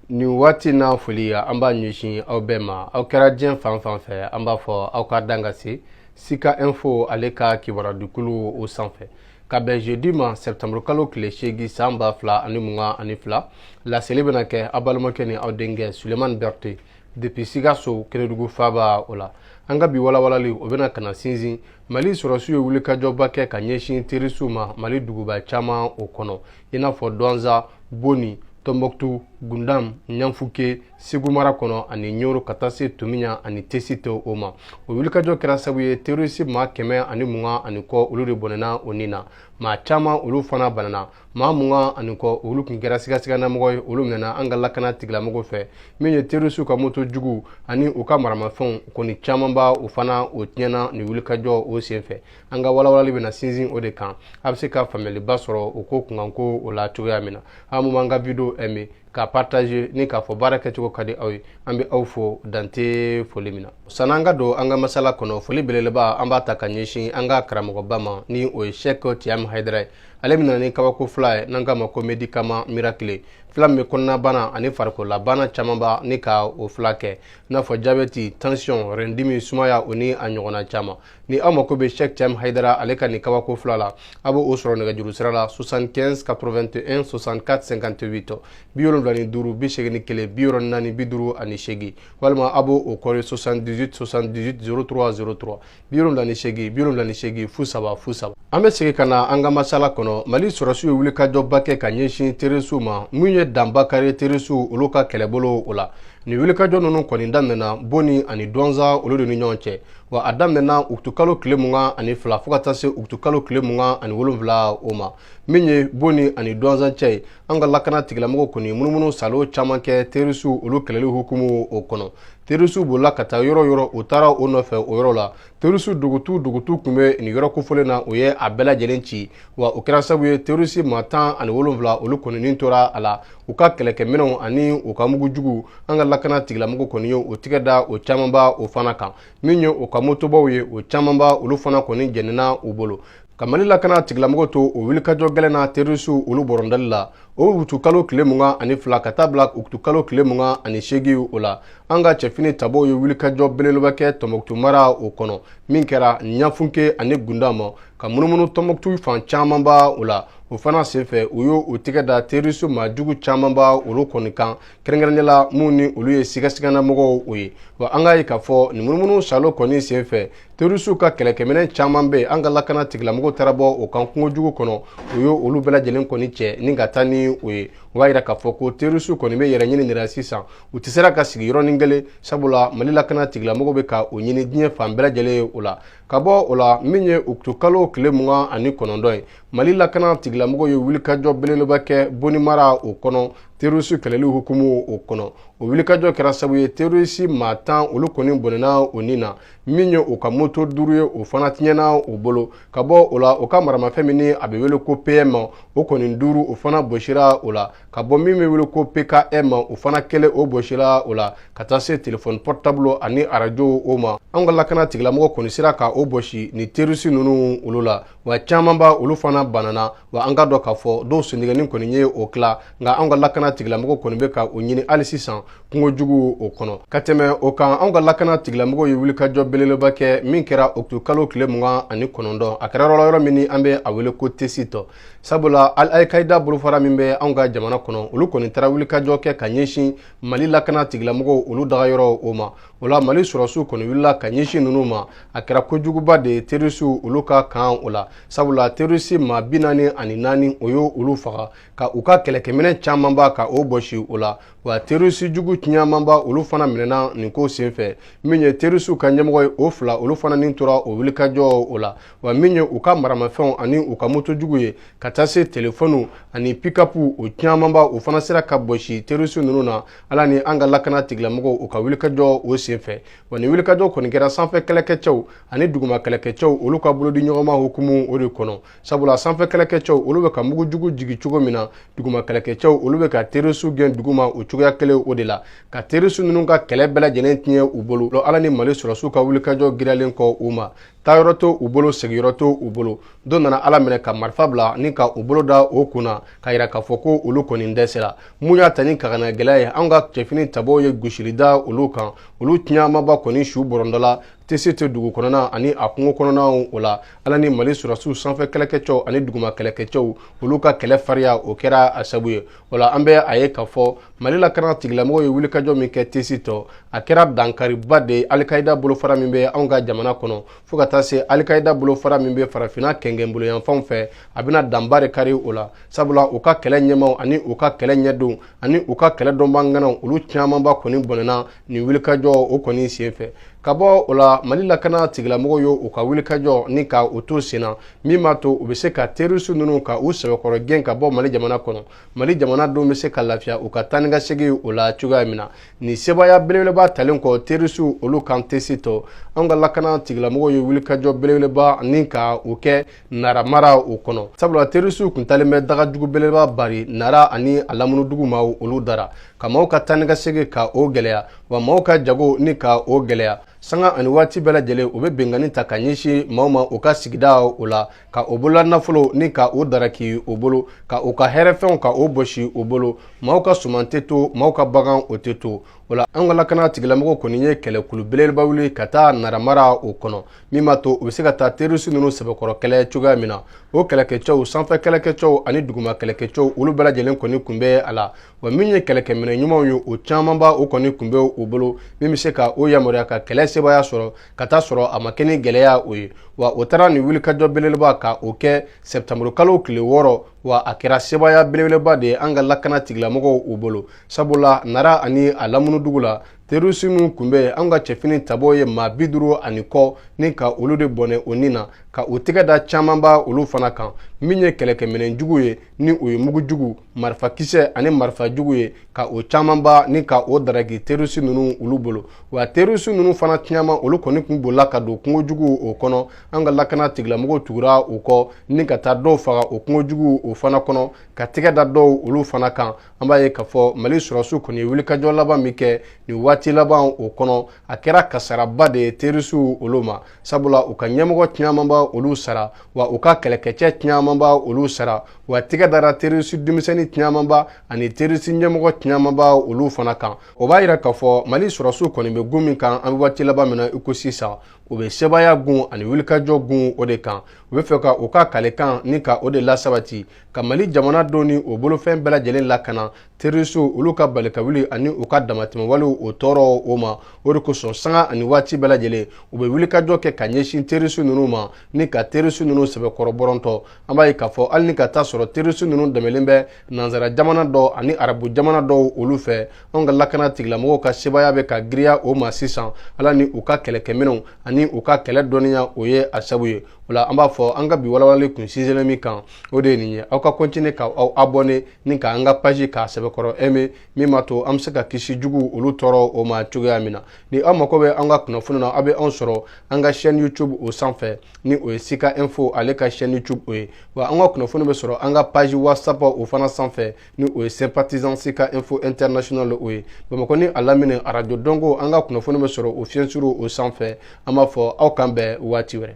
nin waati n'a foli an b'a ɲɛsin aw bɛɛ ma aw kɛra diɲɛ fan fan fɛ an b'a fɔ aw ka dan ka se sika info ale ka kibaradukulu o senfɛ ka bɛn jeudi ma septembre kalo tile seegin san ba fila ani mugan ani fila laseli bɛna kɛ aw balimakɛ ni aw denkɛ sulemani berthe depuis sikaso kenedugu faaba o la an ka bi walawalali o bɛna ka na sinsin mali sɔrɔsiw ye wulikajɔba kɛ ka ɲɛsin terorisiw ma mali duguba caman o kɔnɔ i n'a fɔ dɔnza boni tɔnbɔkutu gundam ɲafunke segu mara kɔnɔ ani ɲɔrɔ ka taa se tominɲan ani tesiti o ma o wulikajɔ kɛra sabu ye terorisi maa kɛmɛ ani mugan ani kɔ olu de bɔnɛna u ni na maa caman olu fana banana maa mugan ani kɔ olu kun kɛra sigasiganamɔgɔ ye olu minɛna an ka lakana tigilamɔgɔ fɛ min ye terorisiw ka moto jugu ani u ka maramafɛnw kɔni camanba o fana o tiɲɛna nin wulikajɔ o senfɛ an ka walawalali bɛna sinsin o de kan a bɛ se ka faamuyaliba sɔrɔ o ko kunkanko o la cogoya min na aw mun b'an ka video aimé ka partager ni k'a fɔ baara kɛcogo ka di aw ye an bɛ aw fo dan tɛ foli min na sanni an ka don an ka masala kɔnɔ foli belebeleba an b'a ta ka ɲɛsin an ka karamɔgɔba ma ni o ye cheikh thiam haidara ye ale bɛ na ni kabako fura ye n'an k'a ma ko medikama mirakile fura min bɛ kɔnɔnabana ani farikololabana camanba ni ka o furakɛ i n'a fɔ jabɛti tansiyɔn rɛndimi sumaya o ni a ɲɔgɔnna caman ni aw mako bɛ Cheikh Thiam Haidara ale ka nin kabako fura la a bɛ o sɔrɔ nɛgɛjuru sira la 75 81 64 58 bi wolonwula ni duuru bi seegin ni kelen bi wɔɔrɔ ni naani bi duuru ani seegin walima a bɛ o kɔri 78 78 03 03 bi wolonwula ni seegin bi wolonwula ni seegin fu saba fu saba an bɛ segin ka na an ka masala kɔnɔ mali sɔrɔsiw ye wulikajɔba kɛ ka ɲɛsin terorisiw ma minnu ye danba kari terorisiw olu ka kɛlɛbolo o la nin wulikajɔ ninnu kɔni daminɛna boni ani dɔnza olu de ni ɲɔgɔn cɛ wa a daminɛna utukalo tile mugan ani fila fo ka taa se utukalo tile mugan ani wolonfila o ma min ye boni ani dɔnza cɛ ye an ka lakana tigilamɔgɔ kɔni munumunu saalo caman kɛ terorisiw olu kɛlɛli hukumu o kɔnɔ terorisiw bolila ka taa yɔrɔ yɔrɔ u taara u nɔfɛ o yɔrɔ la terorisiw dogotu dogotu kun bɛ nin yɔrɔ kofɔlen na u ye a bɛɛ lajɛlen ci wa o kɛra sabu ye terorisi maa tan ani wolonfila olu kɔni ni tora a la u ka kɛlɛkɛminɛnw ani u ka mugu jugu an ka lakana tigilamɔgɔ kɔni ye u tɛgɛ da o camanba o fana kan min ye u ka motobaw ye o camanba olu fana kɔni jenina u bolo ka mali lakana tigilamɔgɔ to o wulikajɔ gɛlɛn na terorisiw olu bɔrɔndali la o utukalo tile mugan ani fila ka taa bila utukalo tile mugan ani seegin o la an ka cɛfini tabaw ye wulikajɔ belebeleba kɛ tɔnbɔkutu mara o kɔnɔ min kɛra ɲafunke ani gundam ka munumunu tɔnbɔkutu fan camanba o la o fana senfɛ u y'u tɛgɛ da terroriste maa jugu camanba olu kɔni kan kɛrɛnkɛrɛnnen la min ni olu ye sigasigannamɔgɔw o ye wa an k'a ye k'a fɔ nin munumunu salo kɔni senfɛ terroristew ka kɛlɛkɛminɛn caman bɛ yen an ka lakana tigilamɔgɔw taara bɔ o kan kungo jugu kɔnɔ u y'olu bɛɛ lajɛlen kɔni cɛ ni ka taa ni o ye o b'a yira k'a fɔ ko terroristew kɔni bɛ yɛrɛ ɲini de la sisan u tɛ sera ka sigi yɔrɔnin kelen sabula mali lakana tigilamɔgɔw bɛ ka o ɲini diɲɛ fan bɛɛ lajɛlen ye o la ka bɔ o la min ye utukalo tile mugan ani kɔnɔntɔn ye mali lakana tigilamɔgɔw ye wulikajɔ belebeleba kɛ boni mara o kɔnɔ terisi kɛlɛli hukumu o kɔnɔ o wulikajɔ kɛra sabu ye terisi maa tan olu kɔni bɔnɛna o ni na min ye u ka moto duuru ye o fana tiɲɛna u bolo ka bɔ o la u ka maramafɛn min ni a bɛ wele ko pm ma o kɔni duuru o fana bosira o la ka bɔ min bɛ wele ko pkm o fana kelen o bosira o la ka taa se telefɔni pɔrɔtabulu ani arajow o ma an ka lakana tigilamɔgɔ kɔni sera ka o bosi ni terisi ninnu olu la wa camanba olu fana banana wa an k'a dɔn k'a fɔ dɔw sentigɛni kɔni ye o tila nka anw ka lakana tigilamɔgɔ kɔni bɛ ka o ɲini hali sisan kungo jugu o kɔnɔ ka tɛmɛ o kan anw ka lakana tigilamɔgɔ ye wulikajɔ belebeleba kɛ min kɛra utukalo tile mugan ani kɔnɔntɔn a kɛra yɔrɔ yɔrɔ min ni an bɛ a wele ko tesiti sabula al alkaida bolofara min bɛ anw ka jamana kɔnɔ olu kɔni taara wulikajɔ kɛ ka ɲɛsin mali lakana tigilamɔgɔw olu dagayɔrɔ o ma o la mali sɔrɔsiw kɔni wulila ka ɲɛsin ninnu ma a kɛra kojuguba de ye terisiw olu ka kan o la sabula terisi maa bi naani ani naani o y'olu faga ka u ka kɛlɛkɛminɛn camanba ka o bɔsi o la wa terisi jugu camanba olu fana minɛna nin ko senfɛ min ye terisiw ka ɲɛmɔgɔ ye o fila olu fana ni tora o wulikajɔ o la wa min ye u ka maramafɛnw ani u ka moto jugu ye ka taa se telefɔniw ani pikapu o camanba o fana sera ka bɔsi terisi ninnu na ala ni an ka lakana tigilamɔgɔw u ka wulikajɔ o senfɛ wa nin wulikajɔ kɔni kɛra sanfɛ kɛlɛkɛcɛw ani duguma kɛlɛkɛcɛw olu ka bolodiɲɔgɔnma hukumu o de kɔnɔ sabula sanfɛ kɛlɛkɛcɛw olu bɛ ka mugujugu jigin cogo min na duguma kɛlɛkɛcɛw olu bɛ ka terisiw gɛn duguma o cogoya kelen o de la ka terisiw ninnu ka kɛlɛ bɛɛ lajɛlen tiɲɛ u bolo ala ni mali sɔrɔsiw ka wulikajɔ giralen kɔ u ma taayɔrɔ t'u bolo seginyɔrɔ t'u bolo dɔw nana ala minɛ ka marifa bila ni ka u bolo da o kun na k'a yira k'a fɔ ko olu kɔni dɛsɛra min y'a ta ni kagana gɛlɛya ye anw ka cɛfini tabaw ye gosili da olu kan olu camanba kɔni su bɔrɔtɔla tesiti dugu kɔnɔna ani a kungo kɔnɔnaw o la ala ni mali sɔrɔsiw sanfɛ kɛlɛkɛcɛw ani duguma kɛlɛkɛcɛw olu ka kɛlɛ fariya o kɛra a sabu ye o la an bɛ a ye k'a fɔ mali lakana tigilamɔgɔw ye wulikajɔ min kɛ tesiti a kɛra dankariba de ye alikaida bolofara min bɛ anw ka jamana kɔnɔ fɔɔ ka taa se alikaida bolofara min bɛ farafina kɛngɛnboloyanfanw fɛ a bɛna danba de kari o la sabula u ka kɛlɛ ɲɛmaw ani u ka kɛlɛ ɲɛdonw ani u ka kɛlɛ dɔnbaga ŋanaw olu camanba kɔni bɔnɛna nin wulikajɔ o kɔni senfɛ ka bɔ o la mali lakana tigilamɔgɔw ye u ka wulikajɔ ni ka u to sen na min b'a to u bɛ se ka terisi ninnu ka u sɛbɛkɔrɔ gɛn ka bɔ mali jamana kɔnɔ mali jamana denw bɛ se ka lafiya u ka taa ni ka segin o la cogoya min na nin sebaaya belebeleba talen kɔ terisiw olu kan tessit an ka lakana tigilamɔgɔw ye wulikajɔ belebeleba ni ka u kɛ nara mara o kɔnɔ sabula terisiw kun talen bɛ daga jugu belebeleba bari nara ani a lamunu dugu maaw olu dara ka maaw ka taa ni ka segin ka o gɛlɛya wa maaw ka jago ni ka o gɛlɛya sanga ani waati bɛɛ lajɛlen u bɛ binkanni ta ka ɲɛsin maaw ma u ka sigida o la ka o bolola nafolo ni ka o daraki o bolo ka u ka hɛrɛfɛnw ka o bosi o bolo maaw ka suman tɛ to maaw ka bagan o tɛ to o la an ka lakana tigilamɔgɔw kɔni ye kɛlɛkulu belebeleba wuli ka taa naramara o kɔnɔ min b'a to u bɛ se ka taa terisi ninnu sɛbɛkɔrɔ kɛlɛ cogoya min na o kɛlɛkɛcɛw sanfɛ kɛlɛkɛcɛw ani duguma kɛlɛkɛcɛw olu bɛɛ lajɛlen kɔni kun bɛ a la wa min ye kɛlɛkɛminɛ ɲumanw ye o camanba o kɔni kun bɛ u bolo min bɛ se ka o yamaruya ka kɛlɛ sebaaya sɔrɔ ka t'a sɔrɔ a ma kɛ ni gɛlɛya o ye wa o taara nin wulikajɔ belebeleba ka o kɛ sɛbɛtanburu kalo tile wɔɔrɔ wa a kɛra sebaaya belebeleba de ye an ka lakana tigilamɔgɔw u bolo sabula nara ani a lamunu dugu la terisi minnu kun bɛ an ka cɛfini tabɔw ye maa bi duuru ani kɔ ni ka olu de bɔnɛ o ni na ka u tɛgɛ da camanba olu fana kan min ye kɛlɛkɛminɛn jugu ye ni o ye mugu jugu marifakisɛ ani marifa jugu ye ka o camanba ni ka o daraki terisi ninnu olu bolo wa terisi ninnu fana caman olu kɔni kun bolila ka don kungo jugu o kɔnɔ an ka lakana tigilamɔgɔw tugura u kɔ ni ka taa dɔw faga o kungo jugu o fana kɔnɔ ka tɛgɛ da dɔw olu fana kan an b'a ye k'a fɔ mali sɔrɔsiw kɔni ye wulikajɔ laban min kɛ nin waati laban o kɔnɔ a kɛra kasaaraba de ye terisiw olu ma sabula u ka ɲɛmɔgɔ camanba olu sara wa u ka kɛlɛkɛcɛ camanba olu sara wa tigɛ dara terisi denmisɛnnin camanba ani terisi ɲɛmɔgɔ camanba olu fana kan o b'a yira k'a fɔ mali sɔrɔsiw kɔni bɛ gun min kan an bɛ waati laban min na i ko sisan u bɛ sebaaya gun ani wulikajɔ gun o de kan u bɛ fɛ ka u ka kalekan ni ka o de lasabati ka mali jamana denw ni o bolofɛn bɛɛ lajɛlen lakana terisiw olu ka balikawuli ani u ka damatɛmɛwalew o tɔɔrɔ o ma o de kosɔn sanga ani waati bɛɛ lajɛlen u bɛ wulikajɔ kɛ ka ɲɛsin terisiw ninnu ma ni ka terisiw ninnu sɛbɛkɔrɔ bɔrɔntɔ an b'a ye k'a fɔ hali ni ka t'a sɔrɔ terisiw ninnu dɛmɛlen bɛ nansara jamana dɔ ani arabu jamana dɔw olu fɛ anw ka lakana tigilamɔgɔw ka sebaaya bɛ ka giriya o ma sisan ala ni u ka kɛlɛkɛminɛnw ani u ka kɛlɛ dɔnniya o ye a sabu ye o la an b'a fɔ an ka bi walawalali kun sinsinlen min kan o de ye nin ye aw ka kɔntine ka aw abɔne ni ka an ka paji k'a sɛbɛkɔrɔ eme min b'a to an bɛ se ka kisi jugu olu tɔɔrɔ o ma cogoya min na ni aw mako bɛ an ka kunnafoni na aw bɛ anw sɔrɔ an ka chaîne youtube o sanfɛ ni o ye sika info ale ka chaîne youtube o ye wa an ka kunnafoni bɛ sɔrɔ an ka paji whatsapp o fana sanfɛ ni o ye sympathisant CK info international o ye Bamakɔ ni a lamini arajo dɔnko an ka kunnafoni bɛ sɔrɔ o fiɲɛsuru o sanfɛ an b'a fɔ aw k'an bɛn waati wɛrɛ